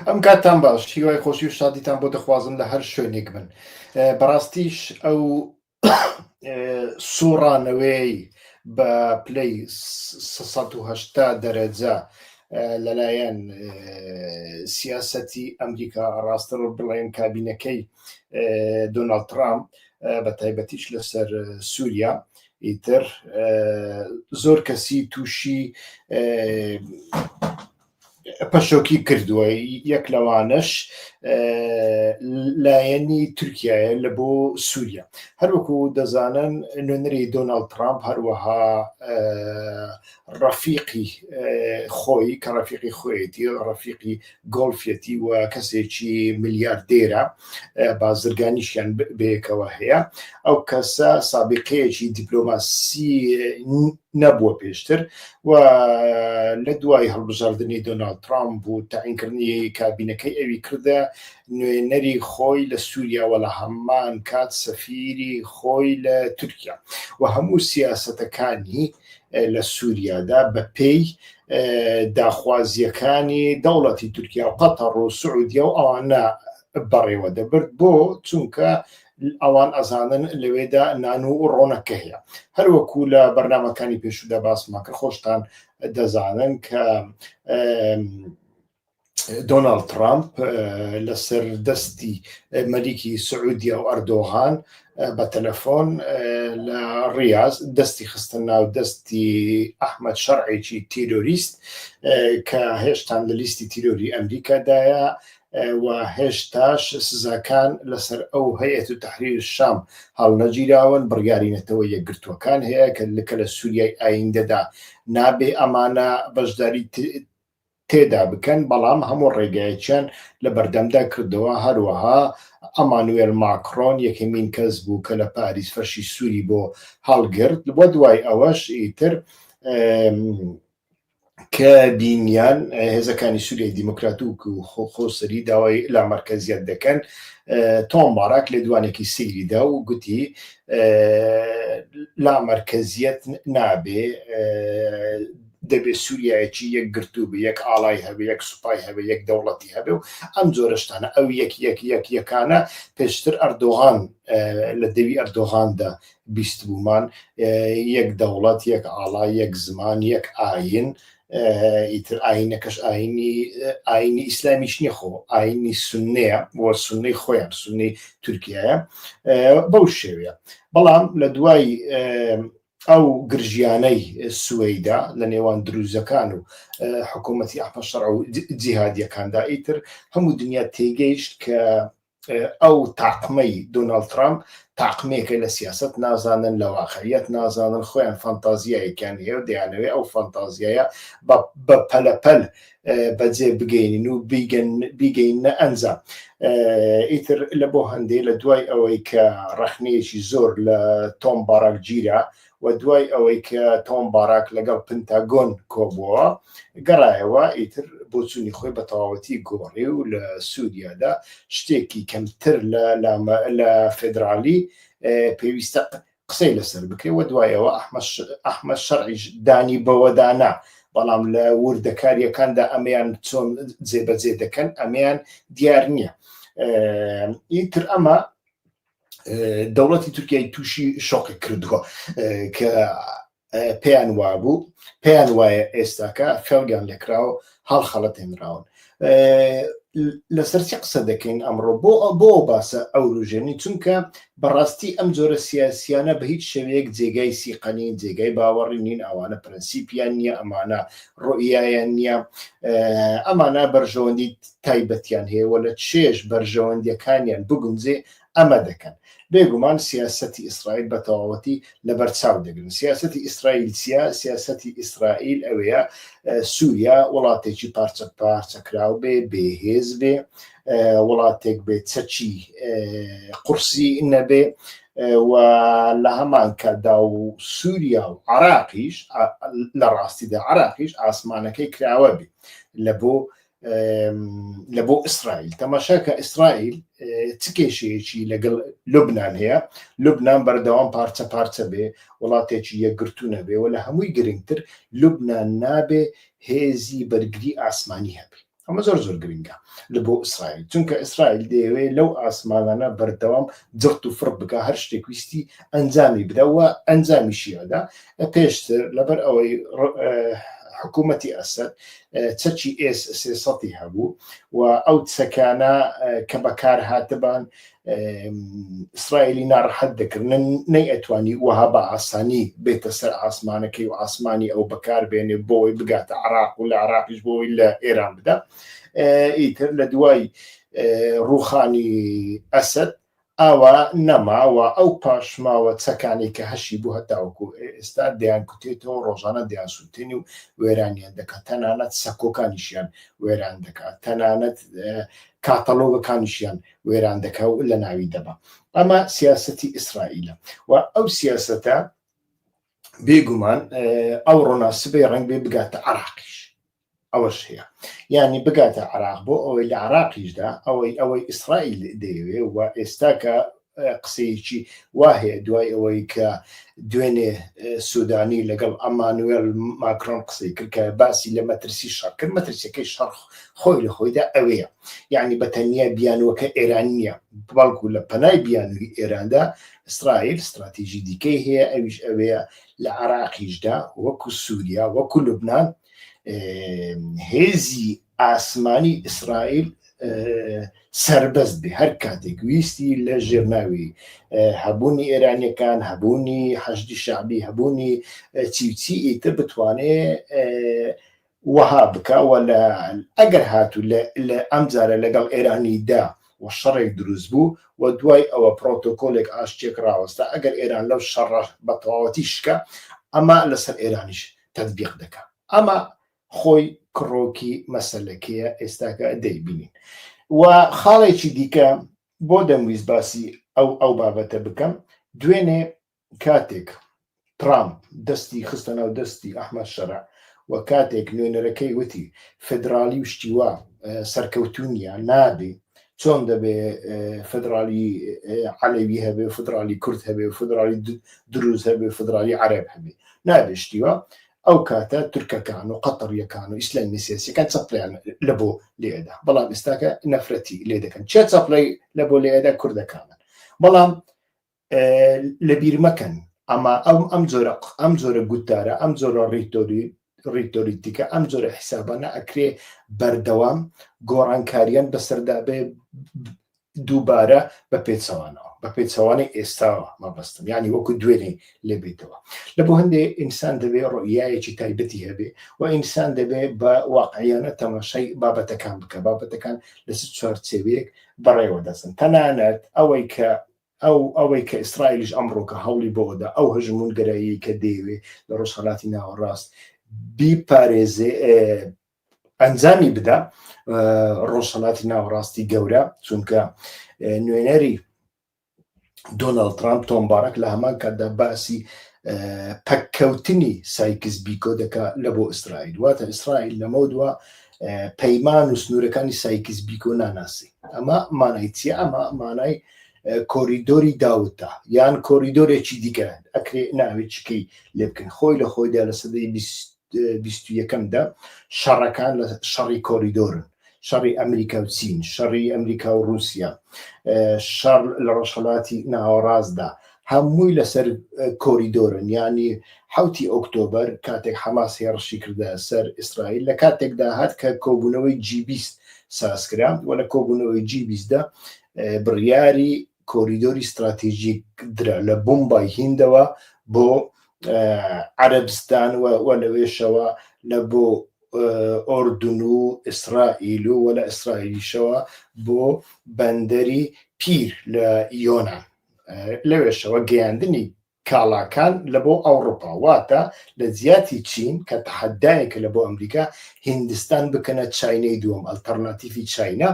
ئەم کاتتان باش هیوای خۆشی و شادیتان بۆ دەخوازم لە هەر شوێنێک بن بەڕاستیش ئەو سوڕانەوەی بە پلەی 1970 دەرەجە لەلایەن سیاسەتی ئەمریکا ڕاستەوە بڵێن کابینەکەی دۆناڵد ترامپ بە تایبەتیش لەسەر سووریا ئیتر زۆر کەسی تووشی پەشۆکی کردووە یەک لەوانەش لایەنی تورکایە لە بۆ سووریا هەروەکو دەزانن نوێنەری دۆناالد ترامپ هەروەها ڕەفیقی خۆی کە ڕەفیقی خۆیەتی ڕەفیقی گۆڵفیەتی و کەسێکی ملیاردێرە بازرگانیشیان بەیەکەوە هەیە ئەو کەسە سابقەیەکی دیپلۆماسی نەبووە پێشتر و لە دوای هەڵبژاردنی دۆناالد ترامپ و تاعینکردنی کابینەکەی ئەوی کردە نوێنەری خۆی لە سووریا وە لە هەمان کات سەفیری خۆی لە تورکیا و هەموو سیاستەکانی لە سووریادا بە پێی داخوازیەکانی دەوڵەتی تورکیا و قەتەڕ و سعودیا و ئەوانە بەڕێوە دەبرد بۆ چونکە ئەوان ئەزانن لەوێدا نان و ڕۆنەکە هەیە هەروەکو لە بەرنمەکانی پێشودا باسماکە خۆشتان دەزانن کە دۆناالد ترامپ لەسەر دەستی مەلیکی سعودیا و ئەردۆغان بە تەلەفۆن لە ڕاز دەستی خستن ناو دەستی ئەحمد شەرعێکی تیرۆریست کە هێشتان لە لیستی تیرۆری ئەمریکادایە و هێشتاش سزاکان لەسەر ئەو هەیەت و تحریر شام هەڵنەگیراون بڕیاری نەتەوە یەکگرتووەکان هەیە کە لکە لە سووریای ئایندەدا نابێ ئەمانە بەشداری تێدا بکەن، بەڵام هەموو ڕێگایەکیان لەبەردەمدا کردەوە، هەروەها ئەمانوێل ماکرۆن یەکەمین کەس بوو کە لە پاریس فەرشی سووری بۆ هەڵگرت و دوای ئەوەش ئیتر کە بینیان هێزەکانی سووریای دیموکراتوک و خۆسەری داوای لا مەرکەزیەت دەکەن تۆم باراک لێدوانێکی سیریدا و گوتی لا مەرکەزیەت نابێ دەبێ سوریایەکی یەکگرتوو بێ، یەک ئاڵای هەبێ، یەک سوپای هەبێ، یەک دەوڵەتی هەبێ و ئەم جۆرە شتانە. ئەو یەک یەک یەک یەکانە پێشتر ئەردۆغان لە دەوی ئەردۆغاندا بیستبوومان، یەک دەوڵەت، یەک ئاڵا، یەک زمان، یەک ئایین، ئیتر ئایینەکەش ئایینی ئایینی ئیسلامیش نییە خۆ، ئایینی سوننەیە و سوننەی خۆیان سوننەی تورکیایە بەو شێوەیە. بەڵام لە دوای ئەو گرژیانەی سوەیدا لە نێوان دروزەکان و حکوومەتی ئەحمە شەڕع و جیهادیەکاندا ئیتر هەموو دنیا تێگەیشت کە ئەو تاقمەی دۆناڵد ترامپ تاقمێکە لە سیاست نازانن لە واقعیت نازانن خۆیان فانتازیایەکیان هەیە و دەیانەوێت ئەو فانتازیایە بە پەلەپەل بەجێ بگەینین و بیگەینە ئەنجام ئیتر لە بۆ هەندێ لە دوای ئەوەی کە ڕەخنەیەکی زۆر لە تۆم باراک گیرا و دوای ئەوەی کە تۆم باراک لەگەڵ پنتاگۆن کۆبووە گەڕایەوە ئیتر بۆچوونی خۆی بە تەواوەتی گۆڕی و لە سووریادا شتێکی کەمتر لە لە فدرالی پێویستە قسەی لەسەر بکرێ و دوایەوە ئەحمە شەرعیش دانی بەوەدانا بەڵام لە وردەکاریەکاندا ئەمەیان چۆن جێبەجێ دەکەن ئەمەیان دیار نییە ئیتر ئەمە دەوڵەتی تورکیای تووشی شۆقی کردووە کە پێیان وابوو پێیان وایە ئێستاکە خەڵگیان لەکراوە هەڵخەڵەتێنراون لەسەر چی قسە دەکەین ئەمڕۆ بۆ بۆ باسە ئەو روژێنی چونکە بەڕاستی ئەم جۆرە سیاسیانە بە هیچ شێوەیەک جێگای سیقەنین جێگای باوەڕی نین ئەوانە پرەنسیپیان نییە ئەمانە ڕۆیایان نییە ئەمانە بەرژەوەندی تایبەتیان هەیە وە لە چێش بەرژەوەندیەکانیان بگونجێ ئەمە دەکەن بێگومان سیاستی ئیسرائیل بە تەواوەتی لەبەر چاو دەگرن سیاستی ئیسرائیل چیە سیاستی ئیسرائیل ئەوەیە سووریا وڵاتێکی پارچە پارچەکراو بێ بێهێز بێ وڵاتێک بێ چەچی قورسی نەبێ و لە هەمان کەدا و سووریا و عراقیش لە ڕاستیدا عراقیش ئاسمانەکەی کراوە بێ لە بۆ لە بۆ ئیسرائیل تەماشا کە ئیسرائیل چ کێشەیەکی لەگەڵ لوبناان هەیە لوبناان بەردەوام پارچە پارچە بێ وڵاتێکی یەکگرتوونە بێ و لە هەمووی گرنگتر لوبناان نابێ هێزی بەرگری ئاسمانی هەبێ ئەمە زۆر زۆر گرنگە لە بۆ ئیسرائیل چونکە ئیسرائیل دەیەوێت لەو ئاسمانانە بەردەوام جخت و فڕ بکە هەر شتێک ویستی ئەنجامی بدەوە ئەنجامیشیدا پێشتر لەبەر ئەوەی حکوومەتی ئەسد چەکی ئێس سێسەی هەبوو و ئەو چەکانە کە بەکار هاتبان ئیسرائیلی ناڕحەت دەکردن نەی ئەتوانی وەها بە ئاسانی بێتە سەر ئاسمانەکەی و ئاسمانی ئەو بەکار بێنێ بۆی بگاتە عراق و لە عراقیش بۆی لە ئێران بدا ئیتر لە دوای ڕوخانی ئەسد ئاوا نەما و ئەو پاشماوە چەکانەی کە هەشی بوو هەتاوەکو ئێستا دەیانکوتێتەوە، ڕۆژانە دەیانسووتێنێ و وێرانیان دەکا، تەنانەت سەکۆکانیشیان وێران دەکا، تەنانەت کاتەلۆگەکانیشیان وێران دەکا و لەناوی دەبا. ئەمە سیاسەتی ئیسرائیلە و ئەو سیاسەتە بێگومان ئەوڕۆ نا سبەی ڕەنگبێ بگاتە عێراقیش. ئەوەش هەیە یانی بگاتە عراق بۆ ئەوەی لە عراقیشدا ئەوەی ئەوەی ئیسرائیل دەیەوێ و ئێستا کە قسەیەکی وا هەیە دوای ئەوەی کە دوێنێ سوودانی لەگەڵ ئەمانوێل ماکرۆن قسەی کرد کە باسی لە مەترسی شەڕکرد مەترسیەکەی شەڕخ خۆی لە خۆیدا ئەوەیە یعنی بە تەنیا بیانوەکە ئێران نییە بەڵکو لە پەنای بیانوی ئێراندا ئیسرائیل استراتیژی دیکەی هەیە ئەویش ئەوەیە لە عراقیشدا وەکو سووریا وەکو لوبناان هێزی ئاسمانی ئیسرائیل سربەست بێ هەر کاتێک ویستی لە ژێرناوی هەبوونی ئێرانیەکان هەبوونی حەشدی شعبی هەبوونی چیچی ئیتە بتوانێ وەها بکەوە لە ئەگەر هاتوو لە ئەم جارە لەگەڵ ئێرانیدا و شەڕێک دروست بوو و دوای ئەوە پرۆتۆکۆلێک ئاشتێک ڕاوەستا ئەگەر ئێران لەو شەڕ بە تەواوەتی شکە ئەمە لەسەر ئێرانیش تەتبیق دەکا ئەمە خۆی کڕۆکی مەسلەکەیە ئێستاکە دەیبینین و خاڵێکی دیکە بۆ دەمویست باسی ئەو ئەو بابەتە بکەم دوێنێ کاتێک ترامپ دەستی خستە ناو دەستی ئەحمد شەرع و کاتێک نوێنەرەکەی وتی فدرالی و شتیوا سەرکەوتونیە نابێ چۆن دەبێ فدرالی عەلەوی هەبێ فدرالی کورد هەبێ فدرالی دروز هەبێ فدرالی عەرەب هەبێ نابشتیوە ئەو کاتە تورکەکان و قەتەڕیەکان و ئیسلامی سیاسەکان چەپلیان لە بۆ لێدا بەڵام ئێستاکە نەفرەتی لێ دەکەن چێ چەپلەی لە بۆ لێدا کوردەکانن بەڵام لەبیرمەکەن ئەما ئەم ئەم جۆرە ئەم جۆرە گوتارە ئەم جۆرە ڕیتۆری ڕیتۆریتیکە ئەم جۆرە حیسابانە ئەکرێ بەردەوام گۆڕانکاریان بەسەردا بێ دووبارە بە پێچەوانەوە بە پێچەوانەی ئێستاوە مەبەستم ینی وەکو دوێنێ لێبێتەوە لە بۆ هەندێ ئینسان دەبێ ڕۆیایەکی تایبەتی هەبێ و ئینسان دەبێ بە واقعیانە تەماشای بابەتەکان بکە بابەتەکان لە چوارچێوەیەک بەڕێوە دەچن تەنانەت ئەوەی کە ئەو ئەوەی کە ئیسرائیلیش ئەمڕۆکە هەوڵی بەوەدا ئەو هەژموونگەراییەی کە دەیەوێ لە ڕۆژهەلاتی ناوەڕاست بیپارێزێ ئەنجامی بدا ڕۆژهەلاتی ناوەڕاستی گەورە چونکە نوێنەری دۆناڵد ترامپ تۆم بارەک لە هەمان کاتدا باسی پەککەوتنی سایکس بیکۆ دەکا لە بۆ ئیسرائیل واتە ئیسرائیل لەمە دووە پەیمان و سنوورەکانی سایکس بیکۆ ناناسی ئەمە مانای چیە ئەمە مانای کۆریدۆری داوتە یان کۆریدۆرێکی دیکە ئەکرێ ناوێکیکەی لێ بکەن خۆی لە خۆیدا لە سەدەی یەکەمدا شەڕەکان لە شەڕی کۆریدۆرن شەڕی ئەمریکا و چین شەڕی ئەمریکا و رووسیا شەڕ لە ڕۆژهڵاتی ناوەڕاستدا هەمووی لەسەر کۆریدۆرن ینی حوتی ئۆکتۆبەر کاتێک حەماس هێڕشی کردە سەر ئیسرائیل لە کاتێکدا هات کە کۆبوونەوەی جیبیست سازکرا و لە کۆبوونەوەی جیبیستدا بڕیاری کۆریدۆری ستراتیژیک درا لە بمبای هیندەوە بۆ عەربستان و لەوێشەوە لە بۆ ئۆردون و ئیسرائیل و وە لە ئیسرائیلیشەوە بۆ بەندەری پیر لە یۆناان لەوێشەوە گەیاندنی کاڵاکان لە بۆ ئەوڕوپا واتە لە جیاتی چین کە تەحەدایەکە لە بۆ ئەمریکا هیندستان بکەنە چاینەی دووەم ئەلتەرناتیفی چاینا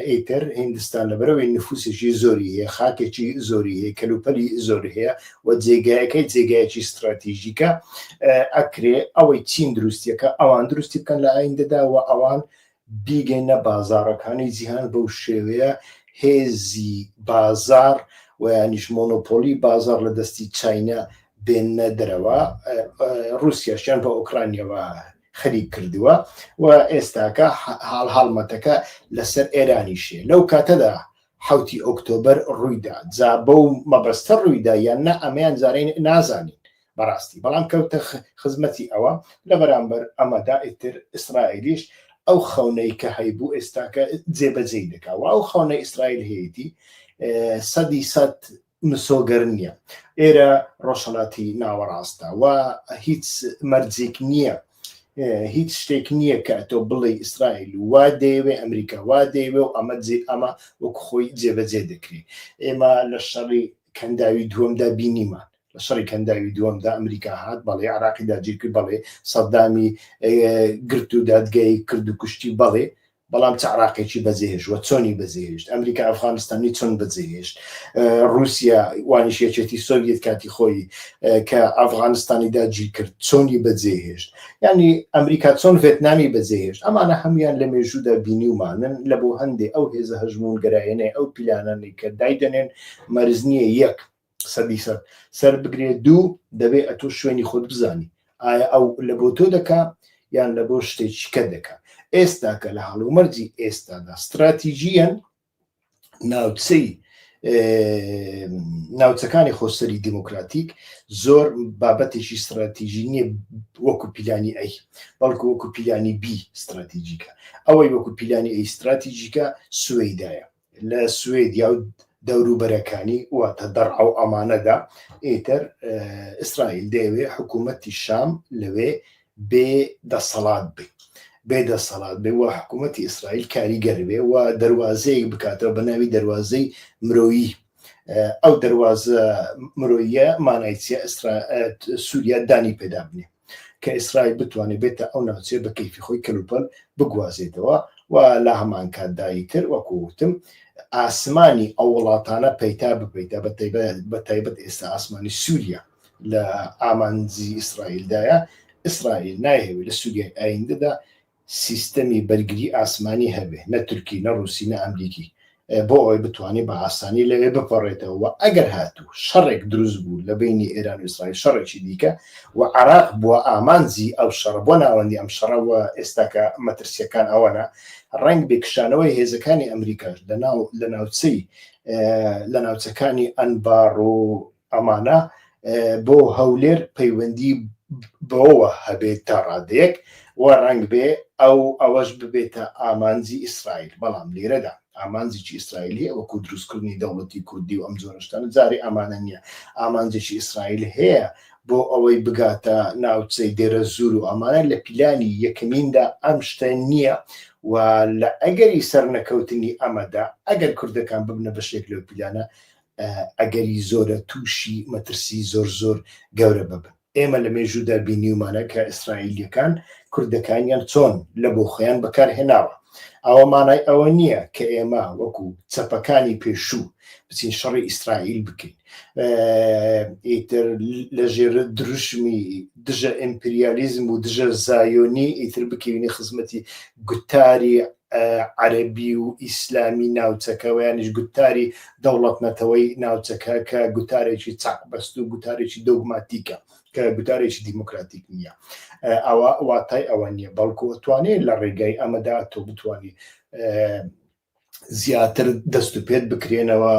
ئیتر هیندستان لە بەرەوەی نفوسێکی زۆری هەیە خاکێکی زۆری هەیە کەلوپەلی زۆر هەیە و جێگایەکەی جێگایەکی ستراتیژیکە ئەکرێ ئەوەی چین دروستیەکە ئەوان دروستی بکەن لە ئایندەدا و ئەوان بیگەینە بازاڕەکانی جیهان بەو شێوەیە هێزی بازاڕ و یانیش مۆنۆپۆلی بازاڕ لە دەستی چینە بێنە دەرەوە رووسیاشیان بە ئۆکرانیەوە خەریک کردووە و ئێستاکە حاڵ هەڵمەتەکە لەسەر ئێرانیشێ لەو کاتەدا حوتی ئۆکتۆبر ڕوویدا جا بەو مەبەستە ڕوویدا یان نە ئەمەیان زارین نازانین بەڕاستی بەڵام کەوتە خزمەتی ئەوە لە بەرامبەر ئەمەدا ئیتر ئیسرائیلیش ئەو خەونەی کە هەیبوو ئێستاکە جێبەجێی دەکا و ئەو خەونە ئیسرائیل هەیەی سەدی سەد مسۆگەر نییە ئێرە ڕۆژهڵاتی ناوەڕاستە و هیچ مەرجێک نییە هیچ شتێک نییە کە تۆ بڵێ ئیسرائیل وا دەیەوێ ئەمریکا وا دەیەوێ و ئەمە جێ ئەمە وەک خۆی جێبەجێ دەکرێت ئێمە لە شەڕی کەنداوی دووەمدا بینیمان لە شەڕی کەنداوی دووەمدا ئەمریکا هات بەڵێ عراقی داگیرکرد بەڵێ سەدامی گرت و دادگای کرد و کوشتی بەڵێ بەڵام چ عراقێکی بەزێش وە چۆنی بەزێشت ئەمریکا ئەفغانستانی چۆن بەزێشت رووسیا وانیشێچێتی سۆڤەت کاتی خۆی کە ئەفغانستانی داگیر کرد چۆنی بەجێهێشت ینی ئەمریکا چۆن ڤێتنامی بەجێهێشت ئەمانە هەمویان لە مێژوودا بینیومانن لە بۆ هەندێک ئەو هێزە هەژمون گەرایەنەی ئەو پیلانانی کە دایدەنێن مەرز نییە یەک سەدی سەد سەر بگرێت دوو دەبێ ئەتۆ شوێنی خۆت بزانی ئایا ئەو لە بۆ تۆ دەکا یان لە بۆ شتێکیکە دەکا ئێستا کە لە هەڵومەرجی ئێستادا استراتیژیەن ناوچەی ناوچەکانی خۆسەری دیموکراتیک زۆر بابەتێکی استراتیژی نییە وەکو پیلانی ئەی بەڵکو وەکو پیلانی بی استراتیژیکە ئەوەی وەکو پیلانی ئەی استراتیژیکە سوێدایە لە سوێدیا و دەوروبەرەکانی واتە دەڕعە و ئەمانەدا ئیتر ئیسرائیل دەیەوێ حکوومەتی شام لەوێ بێ دەسەڵات بێ بێ دەسەڵات بێ و حکوومەتی ئیسرائیل کاریگەر بێ و دەواازەیەک بکاتەوە بە ناوی دەواازەی مرۆیی ئەو دەواازە مرۆیە مانایچە سووریا دانی پێدا بنێ کە ئیسرائیل بتوانێت بێتە ئەو ناوچەیە بە کەیفی خۆی کەلوپەل بگوازێتەوە و لە هەمانکاتدایی تر وەکووتم ئاسمانی ئەو وڵاتانە پەیتا بپیتە بە تایبەت ئێستا ئاسمانی سووریا لە ئامانزی ئیسرائیلدایە ئیسرائیل نایهوی لە سووریای ئایندەدا سیستەمی بەرگری ئاسمانی هەبێ نە تورکی نە ڕووسی نە ئەمریکی بۆ ئەوەی بتوانێ بە ئاسانی لەوێ بپەڕێتەوە و ئەگەر هاتوو شەڕێک دروست بوو لە بینی ئێران و ئیسرائیل شەڕێکی دیکە و عراق بووە ئامانجی ئەو شەڕە بۆ ناوەندی ئەم شەڕە و ئێستاکە مەترسیەکان ئەوەنە ڕەنگ بێ کشانەوەی هێزەکانی ئەمریکاش لەناو لە ناوچەی لە ناوچەکانی ئەنباڕ و ئەمانە بۆ هەولێر پەیوەندی بەوەوە هەبێت تا ڕادەیەک و ڕەنگ بێ ئەو ئەوەش ببێتە ئامانجی ئیسرائیل بەڵام لێرەدا ئامانجێکی ئیسرائیل هەیە وەکو دروستکردنی دەوڵەتی کوردی و ئەم جۆرەشتان جاری ئەمانە نییە ئامانجێکی ئیسرائیل هەیە بۆ ئەوەی بگاتە ناوچەی دێرە زور و ئەمانە لە پیلانی یەکەمیندا ئەم شتە نییە و لە ئەگەری سەرنەکەوتنی ئەمەدا ئەگەر کوردەکان ببنە بەشێک لەو پیلانە ئەگەری زۆرە تووشی مەترسی زۆر زۆر گەورە ببن. ئێمە لە مێژوودا بینیومانە کە ئیسرائیلییەکان کوردەکانیان چۆن لە بۆ خۆیان بەکارهێناوە. ئەوە مانای ئەوە نییە کە ئێمە وەکو چەپەکانی پێشوو بچین شەڕی ئیسرائیل بکەین ئیتر لە ژێر دروشمی دژە ئیمپریالیزم و دژە زایۆنی ئیتر بکەوینە خزمەتی گوتاری عەرەبی و ئیسلامی ناوچەکە ویانیش گوتاری دەوڵەت نەتەوەی ناوچەکە کە گوتارێکی چاق بەست و گوتارێکی دۆگماتیکە کە گوتارێکی دیموکراتیک نییە ئەوە واتای ئەوە نییە بەڵکو توانێت لە ڕێگای ئەمەدا تۆ بتانی زیاتر دەست و پێت بکرێنەوە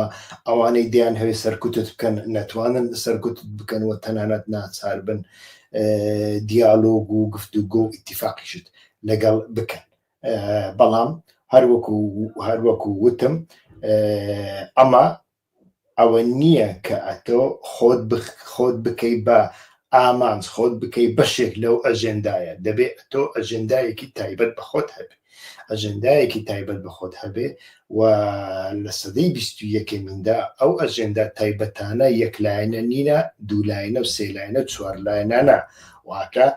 ئەوانەی دیان هەوێ سەرکوتت بکەن نەتوانن سەرکوت بکەن و تەنانەت ناچار بن دیالۆگ و گفتوگۆ ئیتیفاقیشت لەگەڵ بکەن بەڵام هەروەکو هەروەکو وتم ئەمە ئەوە نییە کە ئەتۆ خۆت خۆت بکەی بە ئامانج خۆت بکەی بەشێک لەو ئەژێندایە دەبێ ئەتۆ ئەژێندایەکی تایبەت بە خۆت هەبێ ئەژێندایەکی تایبەت بە خۆت هەبێ و لە سەدەی بیست و یەکەمیندا ئەو ئەژێندا تایبەتانە یەکلایەنە نینە دوولایەنە و سێلایەنە چوارلایەنانە واکە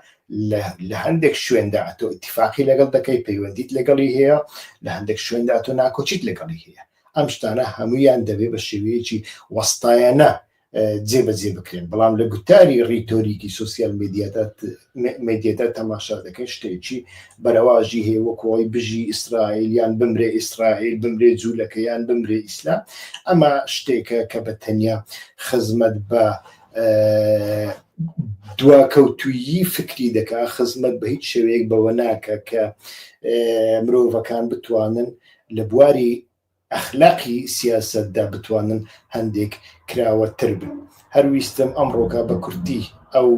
لە لە هەندێک شوێندا تۆ اتفاقی لەگەڵ دەکەی پەیوەندیت لەگەڵی هەیە لە هەندێک شوێندا تۆ ناکۆچیت لەگەڵی هەیە ئەم شتانە هەمویان دەبێ بە شێوەیەکی وەستایەنە جێبەجێ بکرێن بەڵام لە گوتاری ڕیتۆریکی سوسیال مدیەدا تەماشا دەکەن شتێکی بەرەواژی هەیە وەکۆی بژی ئیسرائیل یان بمرێ ئیسرائیل بمرێ جوولەکەیان بمرێ ئیسلام ئەمە شتێکە کە بە تەنیا خزمەت بە دواکەوتویی فکری دەکا خزمەت بە هیچ شێوەیەک بەوە ناکە کە مرۆڤەکان بتوانن لە بواری ئەخلاقی سیاستدا بتوانن هەندێک کراوەتر بن هەر ویستم ئەم ڕۆکە بە کورتی ئەو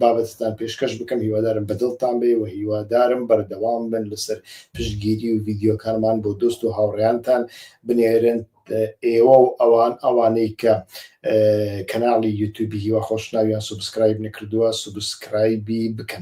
بابەتتان پێشکەش بکەم هیوادارم بەدڵتان بێ و هیوادارم بەردەوام بن لەسەر پشتگیری و ویددیوکانمان بۆ دۆست و هاوڕیانتان بنێرن ئێوە و ئەوان ئەوانەی کە کەناڵی یوتوبی هیوا خۆشناویان سوبسکرایب نەکردووە سوبسکرایبی بکەن.